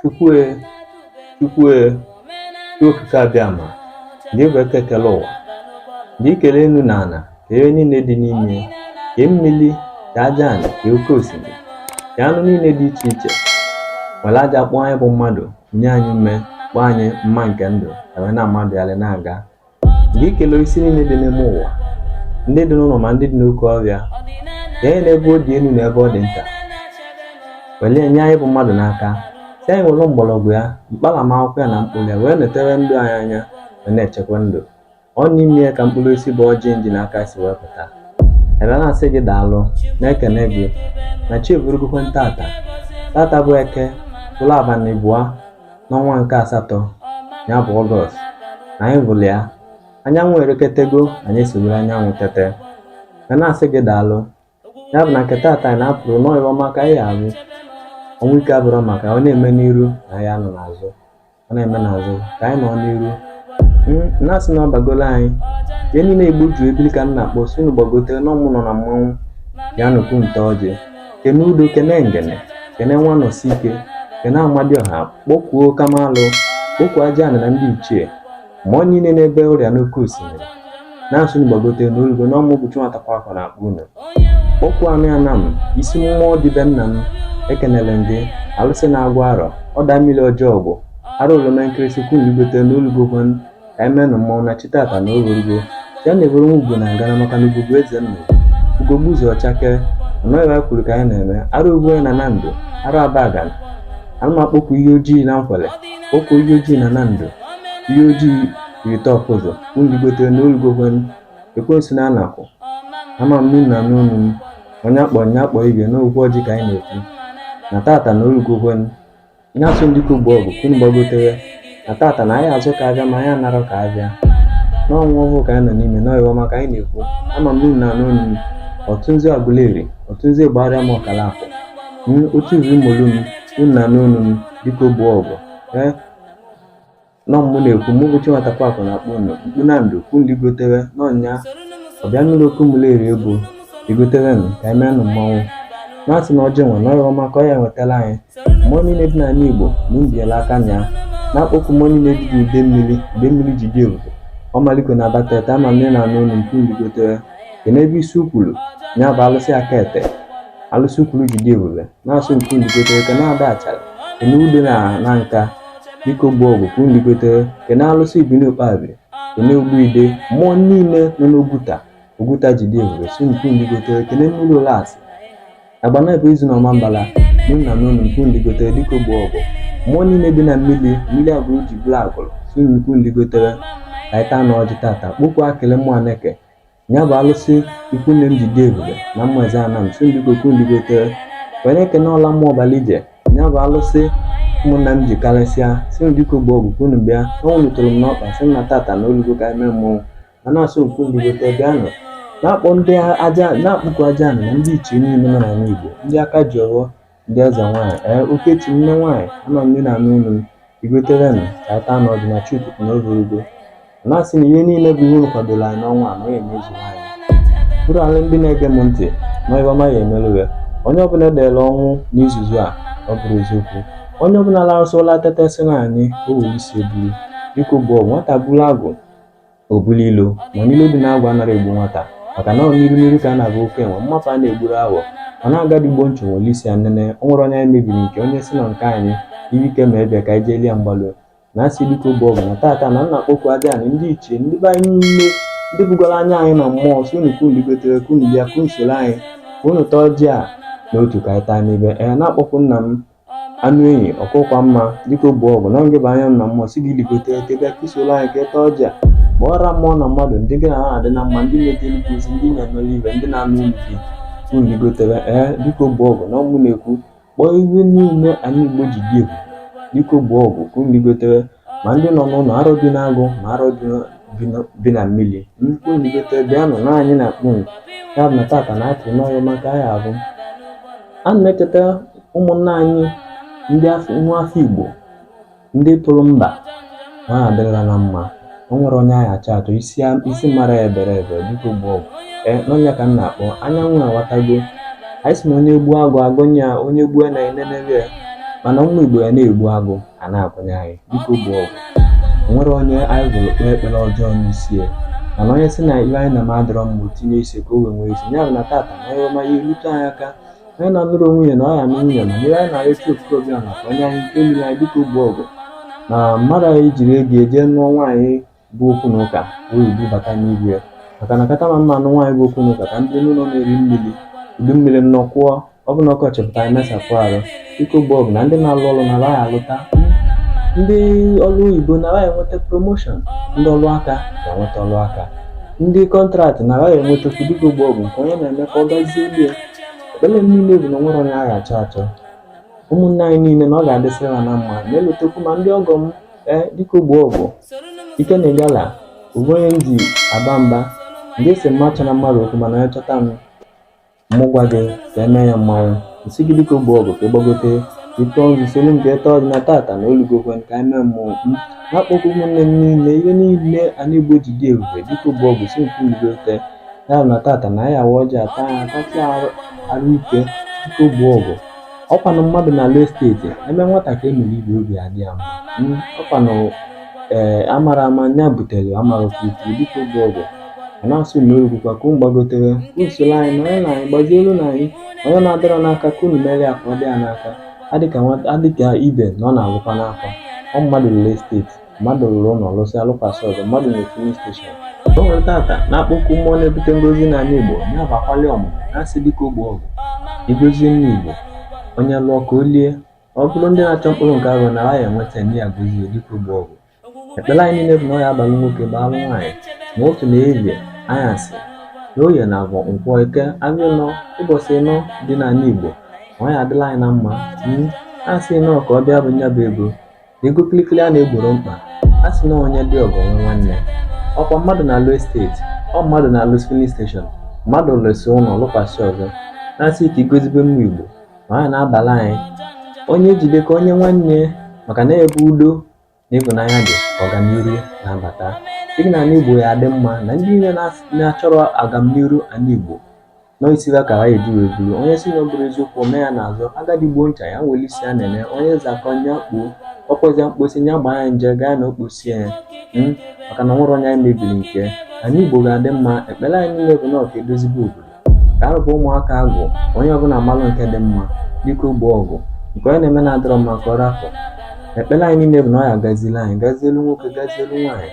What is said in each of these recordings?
Chukwue, Chukwue, Chi okike abịama, gị bụ eke kele ụwa, gị kele enu na ana, ka ihe niile dị n'ime, ka mmiri, ka aja anị, ka oke osimiri, ka anụ niile dị iche iche, were aja kpụọ anyị bụ mmadụ, nye anyị ume, kpọọ anyị mma nke ndụ, ka wee na-amagharị na-aga gị kelee osisi niile dị n'ime ụwa ndị dị n'ụlọ ma ndị dị n'oke ọrịa ka anyị n'ebe ọ dị elu na ebe ọ dị nta welie nye anyị bụ mmadụ n'aka sị anyị were mgbọrọgwụ ya mkpalamakwụkwọ ya na mkpụrụ ya wee netere ndụ anyị anya wee na-echekwa ndụ ọ n'ime ya ka mkpụrụ osisi bụ ọjị m ji n'aka si wee pụta ebe na-asị gị daalụ na-ekene gị na chi eburugokwe ntata tata bụ eke bụrụ abalị abụa n'ọnwa nke asatọ ya bụ ọgọst na anyị bụla ya anyanwụ ereketego anyị esowere anyanwụ tete ka na-asị gị daalụ ya bụ na nke taata anyị na-apụrụ na ọ ihe ọma ka anyị ahụ ọnwụ ike abụrụ maka ọ na-eme n'iru na anyị nọ n'azụ ọ na-eme n'azụ ka anyị nọ n'iru na-asị na ọ bagolo anyị ihe niile Igbo juru ebili ka m na-akpọ sị unu gbagotere na ọ mụ nọ na mmanwụ ya nụkwu nte ọjị kene udo kene ngene kene nwanọsi ike kene amadioha kpọkwuo kamalụ kpọkwuo aja anị na ndị ichie mmụọ niile n'ebe ọrịa n'oke osimiri na-asị unu gbagote na o lugo na ọ mụ bụ Chinwata Kwakụ na-akpọ unu kpọkwuo anị Anam isi mmụọ dị be nna m ekenele m ndị alụsị na Agwụ Arọ ọda mmiri ọjọọ bụ ara oroma nkịrịsị unu ligote na o lugo ka anyị menụ mmanwụ na chi tata na o rugo ya na-eburu nwa ugwu na ngana maka na ugwu bụ eze nna ugwu gbuzu ọchake ọnọghịwa kwuru ka anyị na-eme arụ ugwu onye na na ndụ arụ abagana ana m akpọkwu ihe ojii na nkwele kpọkwu ihe ojii na na ndụ ihe ojii rite ọkụzọ unu ligote na o lugokwen ekwensu na anakụ ama m n'unu na n'onu m onye akpọ onye akpọ ibe na okwu ọjị ka anyị na-ekwu na tata na o lugokwen na-asị ndị kogbu ọgụ unu gbagotere na tata na anyị azụka ahịa ma anyị anarọ ka abịa n'ọnwa ọhụụ ka anyị nọ n'ime na ọ ihe ọma ka anyị na-ekwu ama m niile na anụ unu ọtụ nzu Aguleri ọtụ nzu gbara m ọkala akụ m otu izu mmolu m unu na anụ unu m biko gbuo ọgụ ee na ọ mụ na-ekwu mụ bụ Chinwata Kwakụ na-akpọ unu mkpu na ndụ kwu ligotewe n'ọnya ọbịa nụrụ okwu Umuleri unu ligotewenụ ka anyị meenụ mmanwụ na-asị na ọjị nwe na ọ ihe ọma ka ọ ya-ewetara anyị mmụọ niile dị n'ala Igbo na mbiela aka nya na-akpọkwu mmụọ niile dị n'Idemmili Idemmili ji dị ebube Ọmaliko na Abatete ama nne na anụ unu mkpu ligotewe ke n'ebe isi ukwuru ya bụ alụsị aka ete alụsị Ukwulu ji dị ebube na-asị mkpu ligotewe ka na Ada Achara enu ude na na nka biko gboo ọgụ ka unu ligotere kene alụsị ibini ukpabi kene ogbuide mmụọ niile nọ n'oguta oguta ji dị ebube sị ka unu ligotere kene mmiri ụlasị agbanabọ ezu na ọmambala na-anụ onu m ka unu ligotere biko gboo ọgụ mmụọ niile dị na mmiri mmiri agụlụ ji bụrụ agụlụ sị unu ka unu ligotere ka anyị taa na ọjị tata kpọku akele mmụọ aneke ya bụ alụsị ikwu nne m ji dị ebube na mmazi anam sị biko ka unu ligotere wee na-ekene ọla mmụọ ọbala ije ya bụ alụsị ụmụnna m ji karịsịa sị biko gboo ọgụ ka unu bịa ọnwụ rutere m n'ọkpa sị m na tata na o lugo ka eme mmọnwụ ma na-asị ka unu ligotere bịanụ na-akpọ ndị aja na-akpọku aja anị na ndị ichie niile nọ n'ala igbo ndị aka ji ọghọ Ndị eze nwaanyị, ee Okechi nne nwaanyị, ama m na-anụ olu m, ligoterenụ ka anyị taa n'ọjị na Chuku na ovurugo. Na-asị na ihe niile bụ ihe unu kwadoro anyị n'ọnwa a na ya emezu anyị. Bụrụ ala ndị na-ege m ntị ma ịba ma ya emerụ ya. Onye ọbụla edere ọnwụ n'izuzu a ọ bụrụ eziokwu. Onye ọbụla larụsịa ụla teta sị na anyị o were isi eburu. Biko gboo nwata buru agụ o bulu ilo mana ilo dị n'agwụ anara egbu nwata maka na ọ n'iru n'iru ka a na-aga oke enwe mmanwụ a na-egburu awọ ọ na-agadi gbo nchụ nwere isi ya nene o nwere onye anyị mebiri nke onye sị na nke anyị ibi ike ma ebịa ka anyị jee lie mgbalụ na-asị biko gboo ọgụ na tata na m na-akpọku aja anị ndị ichie ndị be anyị niile ndị bugoro anya anyị na mmụọ sị unu ka unu ligotere ka unu bịa ka unu soro anyị ka unu taa ọjị a n'otu ka anyị taa n'ibe ee na-akpọku nna m anụ enyi ọkụkwa mma biko gboo ọgụ na ngị bụ anya m na mmụọ sị gị ligote ka ị bịa ka i soro anyị ka ị taa ọjị a kpọọra mmụọ na mmadụ ndị gị na ha adị na mma ndị na-ete nnukwu ozi ndị na-emere ibe ndị na-anụ onu gị ka unu ligotebe ee biko gboo ọgụ na ọ mụ na-ekwu kpọọ ihe niile anị igbo ji dị ebube biko gboo ọgụ ka unu ligotebe ma ndị nọ n'ụlọ arọ bi n'agụ ma arọ bi na- bi na- bi na mmiri ka unu ligote bịanụ na anyị na-akpọ unu ya bụ na tata na atụrụ n'ọrụ maka anyị abụ a na-echeta ụmụnna anyị ndị afọ nwa afọ igbo ndị tụrụ mba ha adịrịla na mma o nwere onye anyị achọ achọ isi a- isi mara ya ebere ebe biko gboo ọgụ ee na ọ nya ka m na-akpọ anyanwụ awatago anyị sị na onye gbuo agụ agụ nya onye gbuo na enenebe ya mana ụmụ igbo ya na-egbu agụ a na-akwanye anyị biko gboo ọgụ o nwere onye anyị gwụrụ kpee ekpere ọjọọ n'isi ya mana onye sị na ihe anyị na-adịrọ mma tinye isi ka o wee nwee isi ya bụ na tata na ihe ọma ya erute anyị aka onye na-anụrọ nwunye na ọ ya-anụ nwunye na ihe anyị na-arịọ chukwu abịama ka o nye anyị nke mmiri anyị biko gboo ọgụ na mmadụ anyị jiri ego eje nụọ nwaanyị bụ okwu na ụka wee igbu bata n'igwe ya maka na kata ma mma anụ nwaanyị bụ okwu na ụka ka ndị n'ụlọ na-eri mmiri udu mmiri nnọkwụọ ọ bụ na ọkọchị pụta anyị mesapụ arụ dike ogbo ọgụ na ndị na-alụ ọrụ na ha ga-alụta ndị ọrụ oyibo na ha ga-enweta promoshọn ndị ọrụ aka ga-enweta ọrụ aka ndị kọntraktị na ha ga-enwetakwu dike ogbo ọgụ nke onye na-eme ka ọ gazielu ya ekpere m niile bụ na enwerọ onye a ga-achọ achọ ụmụnne anyị niile na ọ ga-adịsịrị ha na mma na-elotekwu ma ndị ọgọ m ee dike ogbo ọgụ ike na ịgala ọ bụ onye m ji aba mba ngị sị m achọna mmadụ okwu mana ya chọta m mụ gwa gị ka eme ya ma m sị gị dike ogbo ọgụ ka ị gbagote ị tọọ nzu solu nke ịtọ dị na tata na o lugokwa ka anyị mee mmụọ m na-akpọkwu ụmụnne m niile ihe niile ala igbo ji dị ebube dike ogbo ọgụ sị ligote ya bụ na tata na anyị awa ọjị ata ya atatị arụ arụ ike dike ogbo ọgụ ọkwanụ mmadụ na-alụ esteeti eme nwata ka emere ibe obi adị ya mma ọkwanụ ee amara ama nya butere amara ofufu dike ogbo ọgụ a na-asị na o rugokwa ka unu gbagotere usoro anyị na onye na anyị gbazielu na anyị onye na-adịrọ n'aka ka unu mere ya ka ọ dị ya n'aka adịka nwata adịka ibe na ọ na-agwụkwa n'afọ ọ mmadụ na-alụ esteeti mmadụ rụrụ ụlọ lụsịa lụkwasị ọzọ mmadụ nwere filin steshọn o nwere tata na-akpọku mmụọ na-ebute ngozi n'ala igbo na-abụ akwali ọmụmụ na-asị dike ogbo ọgụ ị gozie ndị igbo onye lụọ ka o lie ọ bụrụ ndị na-achọ mkpụrụ nke afọ na ha ya-enweta nne ya gozie dike ogbo ọgụ ekpere anyị niile bụ na ọ ya-abalụ nwoke baalụ nwaanyị ma ụtụtụ na ehihie anyasị na oye na afọ nkwọ eke ahịa ịnọ ụbọchị ịnọ dị n'ala igbo na ọ ya-adịlị anyị na mma a sị nọọ ka ọ bịa bụ nya bụ ego Ego kịlịkịlị a na-egboro mkpa, a sị na onye ji ego nwe nwanne. Ọkwa mmadụ na-alụ esteeti, ọ mmadụ na-alụ filin steshọn, mmadụ lụsị ụlọ lụkwasị ọzọ, na-asị ka ị gozibe ụmụ Igbo, na ọ ya na-abalụ anyị. Onye jide ka o nye nwanne maka na ebe udo na ịhụnanya dị ọganihu na-abata. Sị gị na ala Igbo ya adị mma na ndị niile na-achọrọ agamnihu ala Igbo Noisira ka ha eji wee buru onye si na ọ bụrọ eziokwu ome ya n'azụ agadi gbuo ncha ya nwere isi a na-eme onye zakọ nya kpuo ọkpọzia mkposi nya gbaa ya nje gaa na okposie ya mm, maka na enwerọ onye anyị mebiri nke ala Igbo ga-adị mma ekpere anyị niile bụ na ọ ka e dozibe obodo ka a rụba ụmụaka agwụ onye ọbụla malụ nke dị mma dike ogbo ọgụ nke onye na-eme na-adịrọ mma ka ọ rapụ ekpere anyị niile bụ na ọ ya gazielu anyị gazielu nwoke gazielu nwaanyị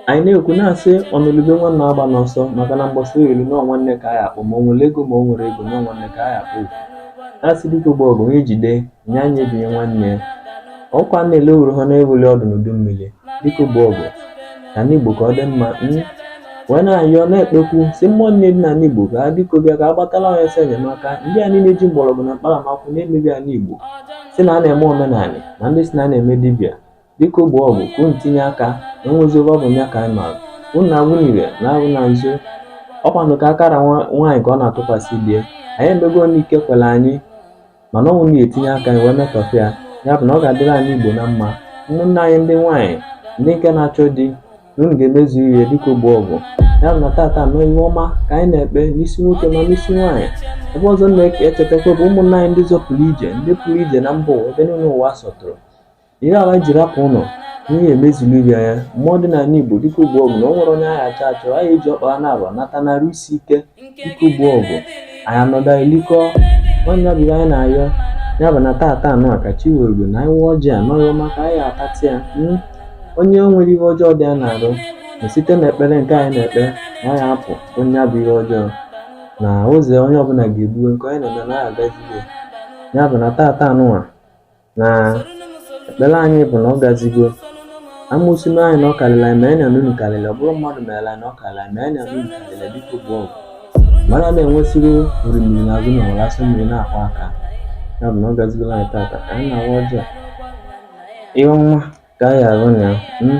anyị na-ekwu na-asị ọnụlụ ube nwanne agbana ọsọ maka na mgbasa elu na nwanne ka a ya-akpọ ma o nwere ego ma o nwerọ ego na nwanne ka a ya-akpọ a sị dike ogbo ọgụ onye jide nya nyebinye nwanne ya ọkwa na-ele owuru ha na-ewuli ọdụ n'udu mmiri dike ogbo ọgụ na ala igbo ka ọ dị mma hmm? wee na-ayọ na-ekpekwu si mmụọ niile dị n'ala igbo ka ha biko bịa ka ha gbatalụ anyị ọsọ enyemaka ndị a niile ji mgbọrọgwụ na mkpa akwụkwọ na-emebi ala igbo si na a na-eme omenala na ndị si na a na-eme dibịa Biko gboo ọgụ ka unu tinye aka na o nwezi ebe ọ bụ nya ka anyị maara unu na-agwụ n'ire na-agwụ na nzu ọkwanụ ka akara nwaanyị ka ọ na-atụkwasị be anyị emego nke ike kwere anyị mana ọnwụ na-etinye aka anyị wee metọfe ya ya bụ na ọ ga-adịrị anyị igbo na mma ụmụnne anyị ndị nwaanyị ndị nke na-achọ di na unu ga-emezu ihe biko gboo ọgụ ya bụ na tata na ọ ihe ọma ka anyị na-ekpe n'isi nwoke ma n'isi nwaanyị ebe ọzọ na-echetakwa bụ ụmụnne anyị ndị zọpụrụ ije ndị pụrụ ije na mba ụwa ebe niile ụwa sọtụrụ ihe ha ji rapụ ụlọ ihe emezulu ibe anya mmụọ dị n'ala igbo biko gboo ọgụ na o nwere onye a ga-achọ achọ anyị eji ọkpa na aba nata n'arụ isi ike biko gboo ọgụ anyị anọda elikọ nwanne ya bụrụ anyị na-ayọ ya bụ na tata anụ a ka chi were na anyị ọjị a n'ọrụ maka anyị atatị ya hmm? onye nwere ihe ọjọọ dị ya n'arụ na site na ekpere nke anyị na-ekpe na ya apụ onye bu ihe ọjọọ na ụzọ onye ọbụla ga-egbuwe nke onye na-eme na ya agazigo ya bụ na tata anụnwa na ekpere anyị bụ na ọ gazigo amosu mee anyị na ọ karịrị anyị mana unu karịrị ọ bụrụ mmadụ mee anyị na ọ karịrị anyị mana unu karịrị biko gboo ọgụ mmadụ ada enwesịrị orimiri na azụ ụnọ were asọ mmiri na-akwọ aka ya bụ na ọ gazigola anyị tata ka anyị na-awa ọjị a ihe ọma ka anyị arụ na ya hmm?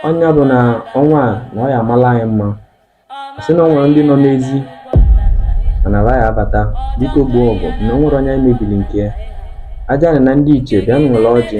ọ nya bụ na ọnwa a na ọ ya amala anyị mma sị na o nwere ndị nọ n'ezi mana ha ya abata biko gboo ọgụ na o nwere onye anyị mebiri nke ya aja na ndị iche bịa nwere ọjị